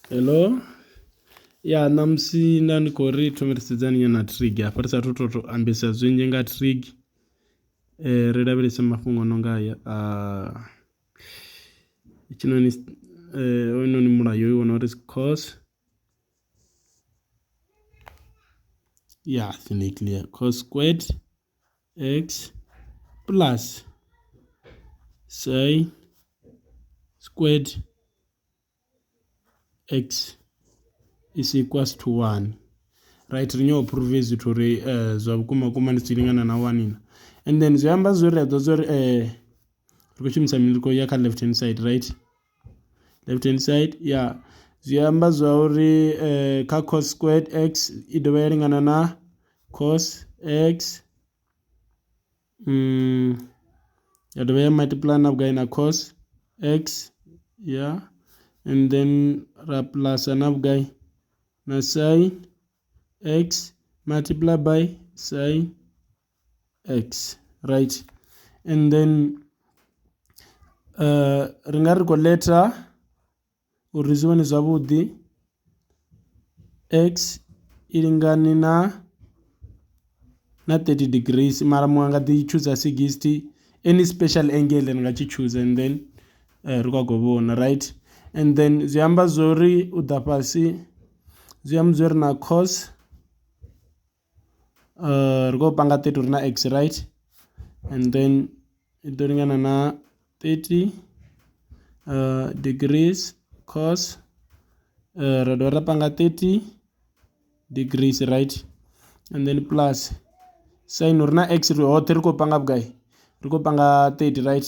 Hello ya ṋamusi nda ndi khou ri thome ri sedzani nyana trig hafha ri sathu to ambesa zwinzhi nga trig ri lavhelese mafhungo a no nga haya a hetshinoni hoyunoni mulayo u wana uri is cos ya clear cos squared. X plus y squared x is equals to 1 right ri nyawo prove zwithu uri eh, zwa vhukuma kuma ndi tshi lingana na 1 ina and then zwi amba zwo ri a ḓo zwo ri eh, ri khou shumisa mini ri khou ya kha left hand side right left hand side ya zwi amba zwa uri kha cos squared x i dovha ya lingana na cos x ya dovha ya multiply na vhugai na cos x ya and then ra plus na vhugai na sin x multiply by sin. X right and then ri nga ri khou ḽetha uri zwi vhone zwavhuḓi X i lingane na na thirty degrees mara muṅwe a nga ḓi tshuza sigisthi any special angle ri nga tshi tshuza and then ri khou khou vhona right and then zwi amba zwori u ḓa fhasi zwi amba zwori na cos. ri khou panga thirty uri na act right and then i ḓo lingana na thirty degrees cos ra dovha ra panga thirty degrees right and then plus sain uri na act hoṱhe ri khou panga vhugai ri khou panga thirty right.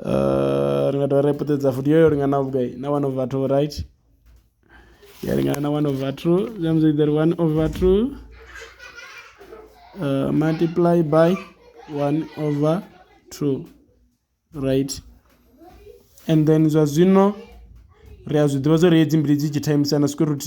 Uh, ri nga dovha ra i puṱedza futhi yo yo lingana vhugai na one over two right ya lingana na one over two zwi amba zwori one over two uh, multiply by one over two right and then zwa zwino ri a zwi ḓivha zwa uri hedzi mbili dzi tshi thaimisana square root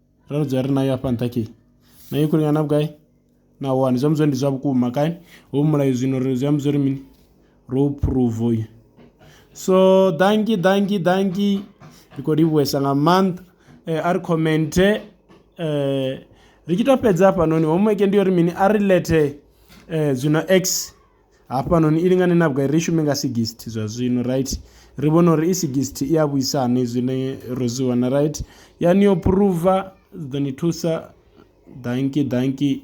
ra ri dzula ri nayo hafha nṱha khe na yo khuli na vhugai na wani zwi amba zwori ndi zwa vhukuma kai ho mulayo zwino ri zwi amba zwori mini ro phuruva uyu so danki danki danki ri khou livhuwesa nga maanḓa eh, a ri khomenthe eh, ri tshi to fhedza hafhanoni homework ndi uri mini a ri lethe eh, zwino x hafhanoni i lingane na vhugai ri shume nga 60 zwa zwino right ri vhona uri i 60 i a vhuisa hani zwine ro zwi wana right yani yo phuruva ḓo ni thusa danki danki